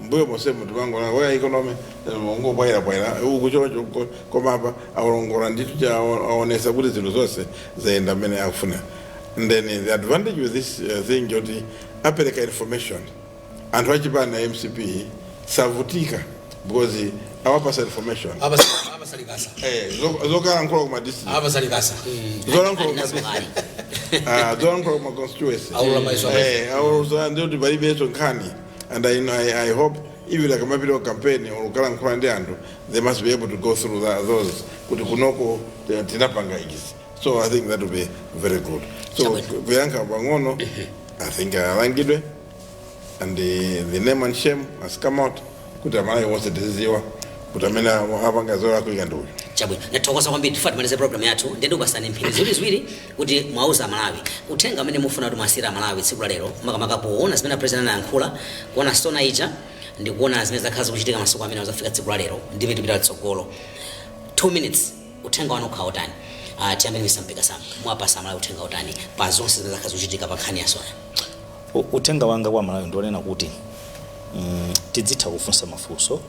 mbuyo monsemu timangona oya economy ikungobwaira bwaira uku choncho uko, koma apa aongola ndithu ncha aonesa kuti zinthu zonse zayenda mmene akufuna then the advantage with this uh, thing choti apereka information anthu achipani a mcp sakuvutika because awapasa information Apasa- apasa likasa Eh, zo- zokalankhula kuma district apasa likasa zolankhula kuma district Ah, zolankhula kuma constituency Aulula maiso amene. Eh, aulula ndikuti palibenso nkhani And I, I, I hope even akamapita ku campaign or kukalankhula ndi anthu they must be able to go through that, those kuti kunoko eh, tinapanga izi so i think that will be very good so Chabwino. kuyankha pang'ono i think alangidwe and the, the name and shame has come out kuti amalawi wonse tiziziwa kuti amene apanga zolakwika ndi uyu chabwino ndathokoza kwambiri tifuna timalize program yathu ndiye ndikupasani mphindi ziwiri ziwiri kuti muwauze amalawi uthenga umene mufuna kuti muwasiyire amalawi tsiku la lero makamaka poona zimene apresident anayankhula kuona sona ija ndi kuona zimene zakhala zikuchitika masiku amenewa kufika tsiku la lero ndi mmene tipita litsogolo 2 minutes uthenga wanu ukhala utani uh, tiyambe ndi misampika sam muwapasa amalawi uthenga utani pa zonse zimene zakhala zikuchitika pa nkhani ya sona U- uthenga wanga kwa amalawi ndi wonena kuti mm, tidzitha kufunsa mafunso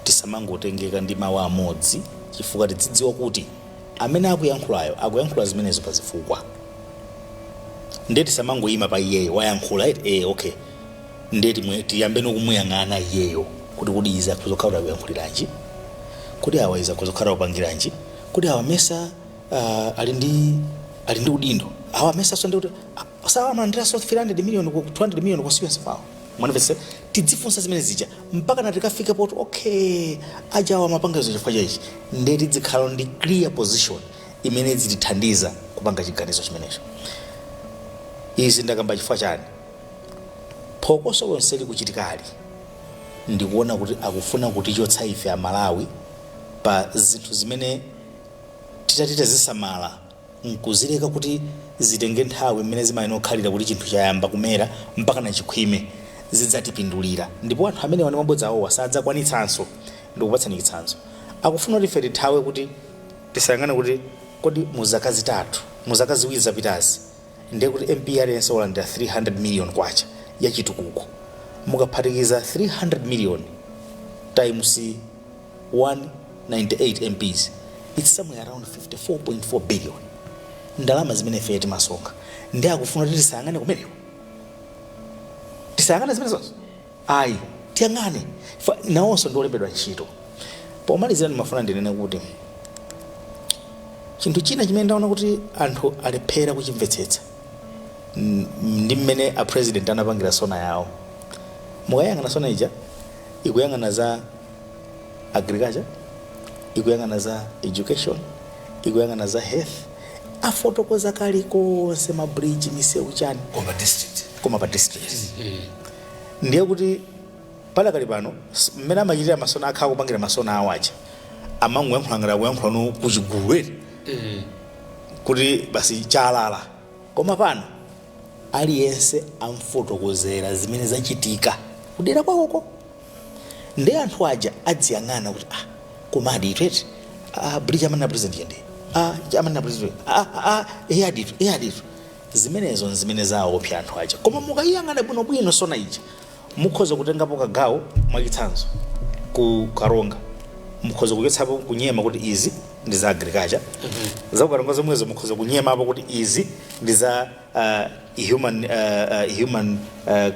tisamangotengeka ndi mawu amodzi chifukwa tidzidziwa kuti amene akuyankhulayo akuyankhula zimenezo pa zifukwa ndiye tisamangoyima pa iyeyo wayankhula eti eh okay ndiye timwe- tiyambe ndikumuyang'ana iyeyo kuti kodi izi akhoza kukhala kuti akuyankhuliranji kodi awa izi akhoza kukhala akupangiranji kodi awa mesa ali ndi ali ndi udindo awa mesa so ndi kuti awa amalandira so 300 million ku 200 million pa constituency pawo mwanamvetsa tidzifunsa zimene zija mpakana tikafike poti okay ajawa amapanga izo chifukwa cha ichi nde tidzikhala ndi clear position imene idzitithandiza kupanga chiganizo chimenecho izi ndakamba chifukwa chani phokoso lonse likuchitikali ndikuona kuti akufuna kutichotsa ife amalawi pa zinthu zimene titati tizisamala nkuzileka kuti zitenge nthawi mmene zimayenera kukhalira kuti chinthu chayamba kumera mpakana chikhwime, zidzatipindulira ndipo anthu amenewa ndi mabodza awowa sadzakwanitsanso. Ndikupatsani chitsanzo. Akufuna kuti ife tithawe kuti tisayang'ane kuti kodi mu zaka zitatu, mu zaka ziwiri zapitazi ndiye kuti MP aliyense walandira 300 miliyoni kwacha ya chitukuko. Mukaphatikiza 300 miliyoni times. 198 MPs its somewhere around 54.4 billion ndalama zimene ifeyo timasonkha ndiye akufuna kuti tisayang'ane kumeneko tisayang'ane zimenezozo ayi tiyang'ane Fa- nawonso ndi olembedwa ntchito pomalizira ndimafuna ndinene kuti chinthu china chimene ndaona kuti anthu alephera kuchimvetsetsa n- ndi mmene a president anapangira sona yawo mukayang'ana sona ija ikuyang'ana za agriculture ikuyang'ana za education ikuyang'ana za health afotokoza kalikonse mabridge misewu chani koma pa district ndiye kuti padakali pano s- mmene amachitira masona akhala kupangira masona awo aja amangoyankhula ngati akuyankhulano kuchigulu eti kuti basi chalala koma pano aliyense amfotokozera zimene zachitika kudera kwakoko Nde anthu aja adziyang'ana kuti ah komadi itu eti ah bridge amanena president yo nde ah ichi amanena president yo, ah ah eyaditu eyaditu zimenezo nzimene zawaopsa anthu aja koma mukayiyang'ana bwinobwino sona ija mukhoza kutengapo kagawo mwachitsanzo ku karonga mukhoza kuchotsapo kunyema kuti izi ndi za agriculture za kukaronga zomwezo mukhoza kunyemapo kuti izi ndi za uh, human, uh, uh, human uh,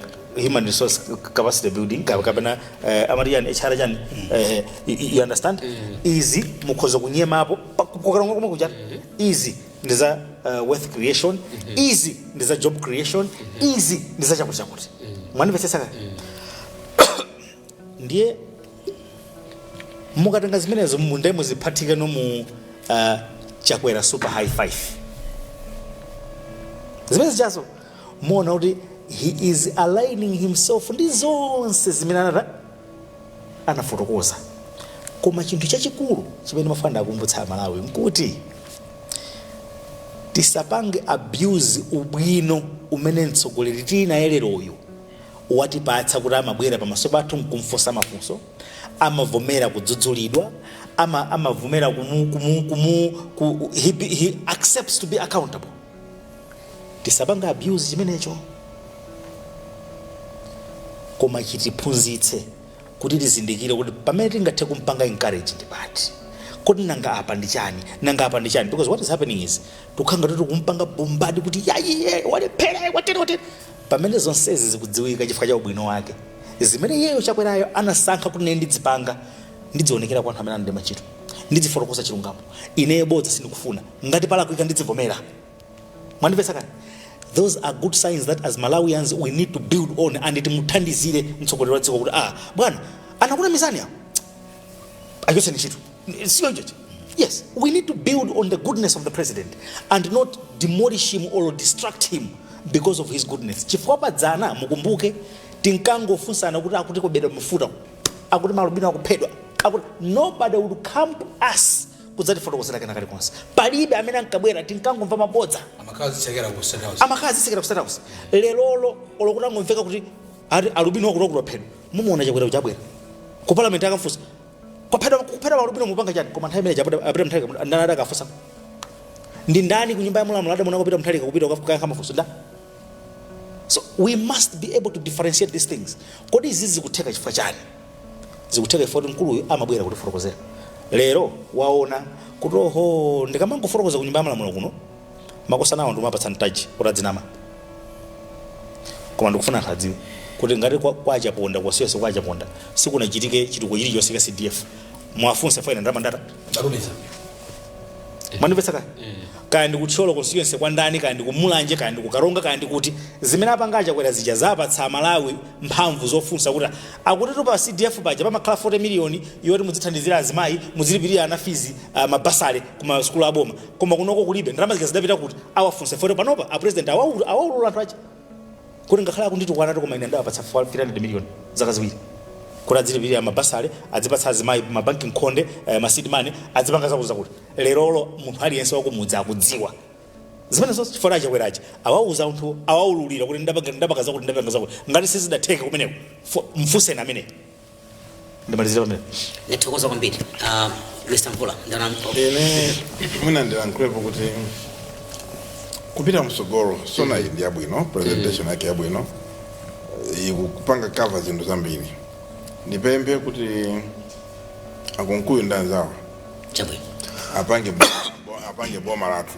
human resource capacity building ka- kapena uh, amati chani hr chani uh, you, you understand izi mukhoza kunyemapo pa- kukaronga komwe kuja izi ndi za uh, wealth creation izi ndi za job creation izi ndi za chakuti chakuti mwanimvetsetsa kaya ndiye mukatenga zimenezo mu- ndiye muziphatikize mu uh, Chakwera super high five zimene zijazo muona kuti he is aligning himself ndi zonse zimene anata anafotokoza koma chinthu chachikulu chimene ndimafuna ndawakumbutsa amalawi nkuti tisapange abuse ubwino umene mtsogoleri tili naye leroyu watipatsa kuti amabwera pamaso pathu nkumfunsa mafunso amavomera kudzudzulidwa ama, amavomera kumu, kumu, kumu, ku, he, be- he accepts to be accountable tisapange abuse chimenecho koma chitiphunzitse kuti tizindikire kuti pamene tingathe kumpanga encourage ndi pati kodi nanga apa ndi chani nanga apa ndi chani because what is happening is tukhala ngati kumpanga bombard kuti yayi walephera watere watere Pamene zonsezi zikudziwika chifukwa cha ubwino wake, zimene iyeyo Chakwerayo anasankha kuti ine ndidzipanga, ndidzionekera kwa anthu amene anandilemba ntchito. Ndidzifotokoza chilungamo. Ineyo bodza sindikufuna. Ngati palakwika ndidzivomera. Mwandimvetsa kodi? Those are good signs that as Malawians we need to build on and timuthandizire mtsogoleri wa dziko kuti ah bwana anakunamizani awo achotseni ntchito. siyo chocho yes we need to build on the goodness of the president and not demolish him or distract him because of his goodness chifukwa padzana mukumbuke tinkangofunsana kuti akuti kobedwa mafuta akuti malubino akuphedwa akuti nobody would come to us kudzatifotokozera kena kalikonse palibe amene ankabwera tinkangomva mabodza amakazi chakera ku state house amakazi sikira ku state house lerolo olo kuti angomveka kuti akuti alubino wakuti wakuti waphedwa mumuona chakwera kuti abwera ku parliament akafunsa kwaphedwa kukuphedwa malubino mupanga chani koma nthawi imene ija pita a Peter Mutharika mu- ndani adakamfunsa ndi ndani ku nyumba ya malamulo adamuonako Peter Mutharika kupita kukayankha mafunso ndani so we must be able to differentiate these things kodi izi zikutheka chifukwa chani zikutheka chifukwa kuti mkuluyu amabwera kutifotokozera lero waona kuti oho ndikamangofotokoza ku nyumba ya malamulo kuno makosanawa ndikumapatsa mpata kuti adzinama koma ndikufuna anthu adziwe kuti ngati kwa, kwa a Chaponda constituency kwa achaponda sikunachitike chitukuko chilichonse cha cdf muwafunse faina ndamandata Ndalumiza. mwandimvetsa kaya kaya ndi ku Thyolo constituency kwa ndani kaya ndi kumulanje kaya ndi kukaronga kaya ndi kuti zimene apanga achakwera zija zapatsa amalawi mphamvu zofunsa kuti akutitu pa cdf paja pamakhala 40 miliyoni yoti mudzithandizira azimayi mudzilipirira ana fees uh, mabasale ku masukulu aboma koma kunoko kulibe ndalama zija zidapita kuti awafunse chifukwa panopa a president awaulu- awaulula anthu aja kuti ngakhale akunditukwana koma ine ndawapatsa 300 million zaka ziwiri kuti adzilipirira amabasale adzipatsa azimayi ma banki mkhonde eh, ma seed money adzipanga zakuti zakuti lerolo munthu aliyense wakumudzi akudziwa zimenezo zonse chifukwa a Chakwera aja awauza anthu awaululira kuti ndapanga ndapanga zakuti ndapanga zakuti ngati sizidatheke kumeneko fu- mfunseni ameneyo ndimalizira pamene ndithokoza kwambiri Ah, mr mvula ine mwina ndilankhulepo kuti kupita msogolo sona iyi ndi yabwino presentation yake yabwino ikupanga cover zinthu zambiri ndipemphe kuti akunkuyu ndi anzawo chabwino apange bo- apange boma lathu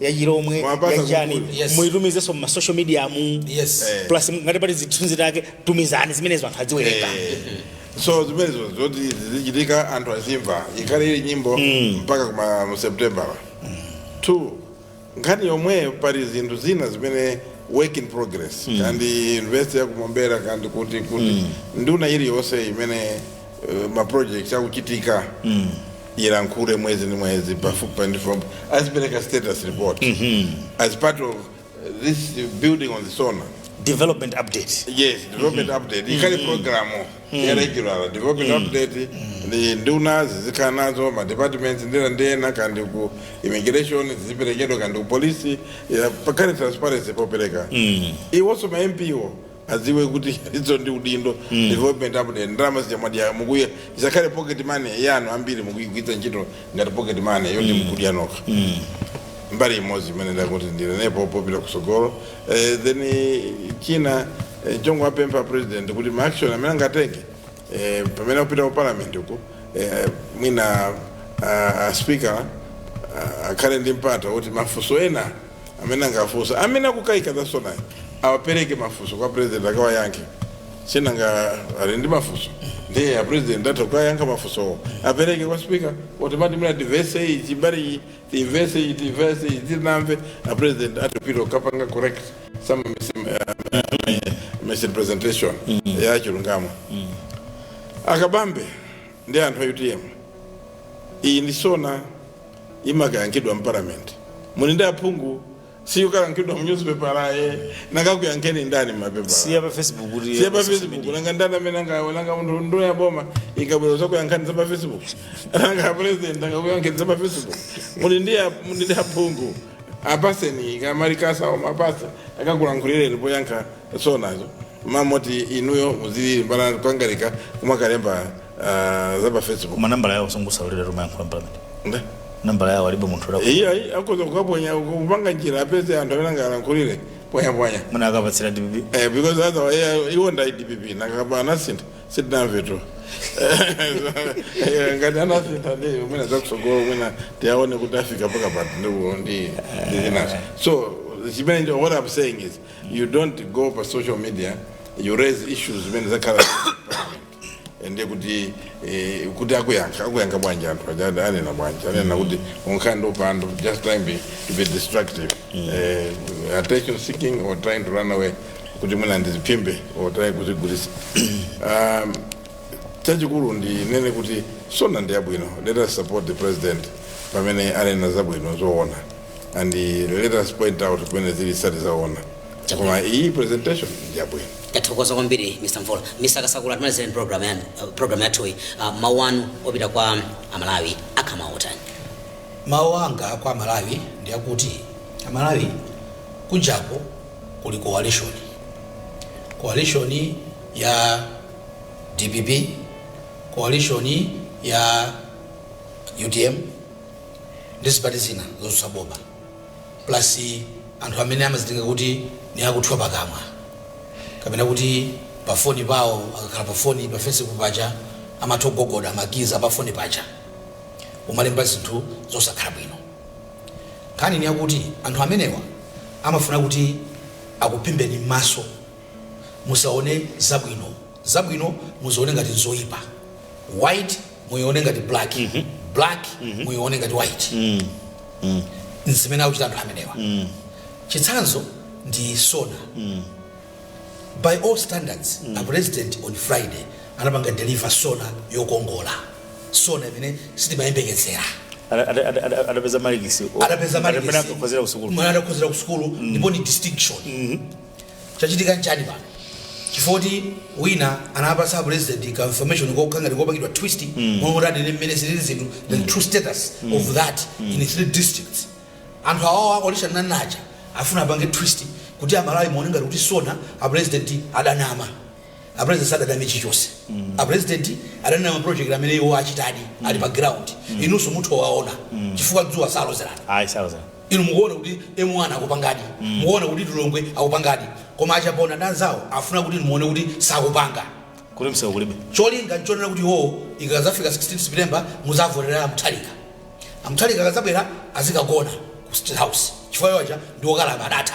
yachilomwe Mwapasa yachani kukulu. Yes. muitumizenso mma social media mu yes Eh. plus ngati pali zithunzi take tumizani zimenezo anthu adziwerenga so zimenezo zoti zizichitika anthu azimva ikhale ili nyimbo mpaka kuma mu september two nkhani yomweyo pali zinthu zina zimene work in progress ngati university ya ku Mombera kandi kuti kuti nduna iliyonse imene uh, ma projects akuchitika mm. ilankhule mwezi ndi mwezi pafupi ndi pafupi azipereka status report mm -hmm. as part of uh, this building on the sona development update yes development mm -hmm. update ikhale mm -hmm. programu mm -hmm. ya regular development mm -hmm. update ndi nduna zizikhala nazo ma departments ndinena ngati ku immigration ziziperekedwa ngati ku polisi pakhale transparency popereka mm -hmm. iwonso ma MP-wo adziwe kuti izo ndi udindo mm. development update ndalama zija mwadya mukuya isakhale pocket money yanu ambiri mukuyigwiritsa ntchito ngati pocket money yoti mm. mukudya nokha mm. mbali imodzi imene ndati ndinenepo popita kutsogolo eh, then eh, china eh, chongo apempha president kuti ma action amene angatenge eh, pamene akupita ku parliament uku eh, mwina uh, speaker uh, akhale ndi mpata kuti mafunso ena amene angafunse amene akukaika za sonayi awapereke mafunso kwa president akawayankhe sinanga ali ndi mafunso ndiye a president atha kukayankha mafunsowo apereke kwa speaker automatically muna diverse iyi chibali iyi diverse iyi diverse iyi tinamve a president atipita kukapanga correct some mis- uh, misrepresentation ya chilungamo akakambe ndi anthu a utm iyi ndi sona imakayankhidwa mparliament muli ndi aphungu siyikayankhidwa mu newspaper aye akakuyankheni ndani mmapepala siya pa facebook kuti siya pa social facebook media. nanga ndani amene angawe nanga munthu nduna ya boma ikabwera zakuyankhani za pa facebook nanga president angakuyankheni za pa facebook muli ndi a- muli ndi aphungu apaseni ma remarks awo muwapatse akakulankhulireni poyankha sonazo m'malo moti inuyo muzilili m'mbali kukangalika kumakalemba Ah, za pa facebook manambala yawo sangawalolere kumayankhula mparliament nde nambala yawo alibe munthu la iye ayi akhoza kukaponya kupanga njira apeze anthu amene angalankhulire ponyaponya muna akapatsira dpp Eh, because otherwise eh, iwo ndi a dpp kaya anasintha sitinamve tu Eh, ngati anasintha ndi umene zakutsogolo mmene tiaone kuti afika mpaka pati ndiwo ndi ndi zinazo so chimene ndi- what i'm saying is you don't go pa social media you raise issues zimene zakhala ende kuti eh, kuti akuyankha akuyankha bwanji anthu aja ade- anena bwanji anena kuti unkhanza upandu just trying be, to be destructive eh, attention seeking or trying to run away kuti mwina adziphimbe or trying kuzigulisa um, chachikulu ndinene kuti sona ndi yabwino let us support the president pamene anena zabwino zoona and eh, let us point out pamene zili sizili zoona Koma iyi presentation njabwino. tathokoza kwambiri mr mvula mr kasakula timalizireni program yanu uh, program yathuyi uh, mawu anu opita kwa amalawi akhama otani mawu anga kwa amalawi ndi akuti amalawi kunjako kuli coalition coalition ya dpp coalition ya utm ndi zipani zina zotsutsa boma plus anthu amene amazitenga kuti ni akuthwa pakamwa kapena kuti pa foni pawo akakhala pa foni pa fesibuku paja amatha kugogoda makizi apa foni paja umalemba zinthu zosakhala bwino nkhani ni yakuti anthu amenewa amafuna kuti akuphimbeni m'maso musaone zabwino zabwino muzione ngati zoyipa white muione ngati black black muione ngati white nzimene akuchita anthu amenewa chitsanzo ndi sona by all standards a president on friday anapanga deliver sona yokongola sona imene sitimayembekezera Ada- ada- ada- ada- adapeza malikisi adapeza Adakhozera kusukulu mwana adakhozera kusukulu ndipo ni distinction Chachitika nchani pano? Chifukwa choti wina anawapatsa a Pulezidenti ka information kokha ngati kopangidwa twist momwe kuti anene mmene zilili zinthu the true status of that in three districts. Anthu awawa olusha nane aja afuna apange twist kuti a Malawi muone ngati kuti sona a Pulezidenti adanama. A Pulezidenti sadaname chilichonse. A Pulezidenti adanena ma project amene iwo achitadi ali pa ground. Inunso mutha kuwaona chifukwa dzuwa salozerana. Ayi sauza. Inu mukuona kuti M1 akupangadi, mukuona kuti Lilongwe akupangadi koma a Chaponda ndi anzawo akufuna kuti inu muone kuti sakupanga. Kuti msewu kulibe. Cholinga nchonena kuti iwowo ikadzafika 16 September mudzavotere a Mutharika. A Mutharika akadzabwera azikagona ku State House chifukwa iwo aja ndi okalamba adatha,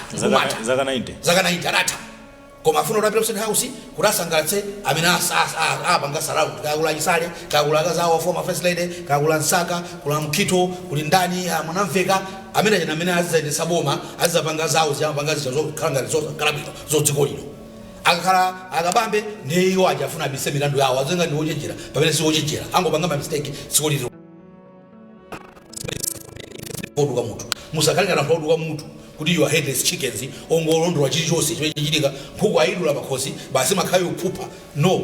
zaka 90 adatha. koma afuna kuti apite ku state house kuti asangalatse amene as- as- a- apanga surround kaya kuli a chisale kaya kuli akazi awo former first lady kaya kuli a msaka kuli a mukhito kuli ndani ah, mwanamveka amene achina amene azizayendesa boma azizapanga zawo ziyamapanga zija zokhala ngati zokhala bwino mdziko lino akakhala akabambe ndiye iwo aja afuna abise milandu yawo aziyesa ngati ndi ochenjera pamene si ochenjera angopanga mamistake dziko lino oduka mutu musakhale ngati anthu oduka mutu kuti you are headless chickens ongolondola chilichonse chimene chichitika nkhuku ayidula pakhosi basi imakhala ikuphupha no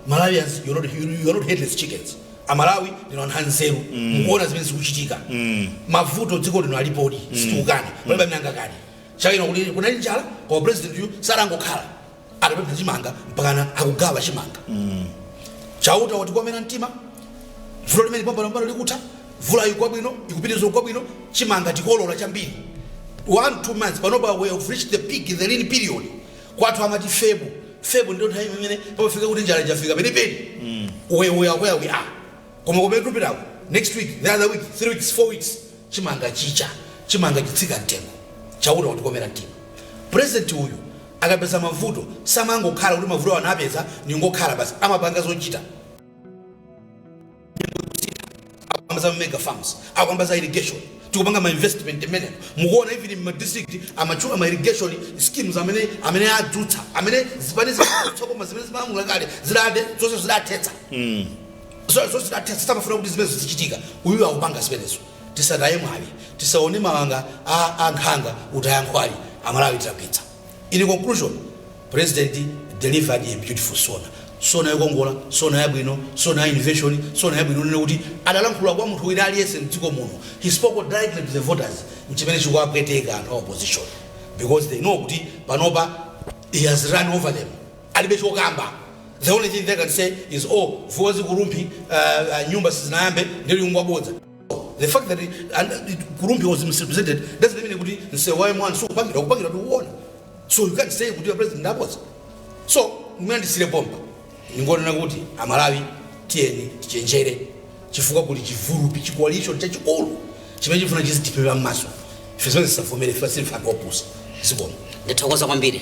malawians you are not, you, you are not headless chickens amalawi ndinu anthu anzeru mukuona zimene zikuchitika mavuto mdziko lino alipodi sitikukana palibe amene angakane chaka chino kuti kunali njala koma president uyu sanangokhala atapempha chimanga mpakana akugawa chimanga chauta watikomera mtima vuto limeneli pompano pano likutha mvula ikugwa bwino ikupitiriza kugwa bwino chimanga tikolola chambiri one two months panopa we have reached the peak in the lean period kwathu amati febo febo ndiyo nthawi imene pamafika kuti njala yafika penipeni we we are where we are koma kumene tupitako next week the other week three weeks four weeks chimanga chicha chimanga chitsika mtengo chauta watikomera mtima president uyu Akapeza mavuto, samangokhala kuti mavutowo anapeza ndingokhala basi, amapanga zochita. Nyengo zikusintha, akukamba za ma mega farms, akukamba za irrigation, tikupanga ma investment mmenemo, mukuona even in my district amatchula ma irrigation schemes amene amene adzutsa, amene zipani zotsutsa boma zimene zimalamula kale zidathe zonse zidathetsa, zonse zidathetsa, samafuna kuti zimenezo zizichitika, uyuyu akupanga zimenezo. tisataye mwayi tisaone mawanga a nkhanga kutaya nkhwali amalawi tilakwitsa in conclusion president delivered a beautiful sona sona yokongola sona yabwino sona ya innovation sona yabwino kunena kuti adalankhula kwa munthu wina aliyense mdziko muno he spoke directly to the voters mchimene chikuwapweteka anthu a opposition because they know kuti panopa he has run over them alibe chokamba the only thing they can say is oh vwaza ku rumphi uh, uh, nyumba sizinayambe ndiye ngwabodza the fact that it, and it, ku rumphi was misrepresented doesn't mean kuti msewu wa m1 sukupangidwa ukupangidwa tikuona so you can't say kuti your president ndabodza so mwina ndisiyire pompa ndingonena kuti amalawi tiyeni tichenjere chifukwa kuli chigulupu chi coalition chachikulu chimene chifuna chizitiphimba mmaso ife zimenezo tisavomere ife silife anthu opusa zikomo ndithokoza kwambiri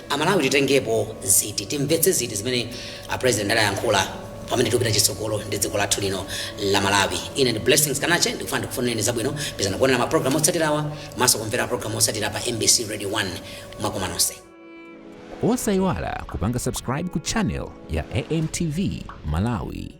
Amalawi titengepo ziti? Timvetse ziti zimene a president adayankhula pamene tikupita chitsogolo ndi dziko lathu lino la Malawi? Ine ndi Blessings Kanache ndikufuna ndikufunireni zabwino. Pitirizani kuonera ma program otsatirawa komanso kumvera program otsatira pa mbc Radio 1 mwakoma nonse. Osayiwala kupanga subscribe ku channel ya AMTV Malawi.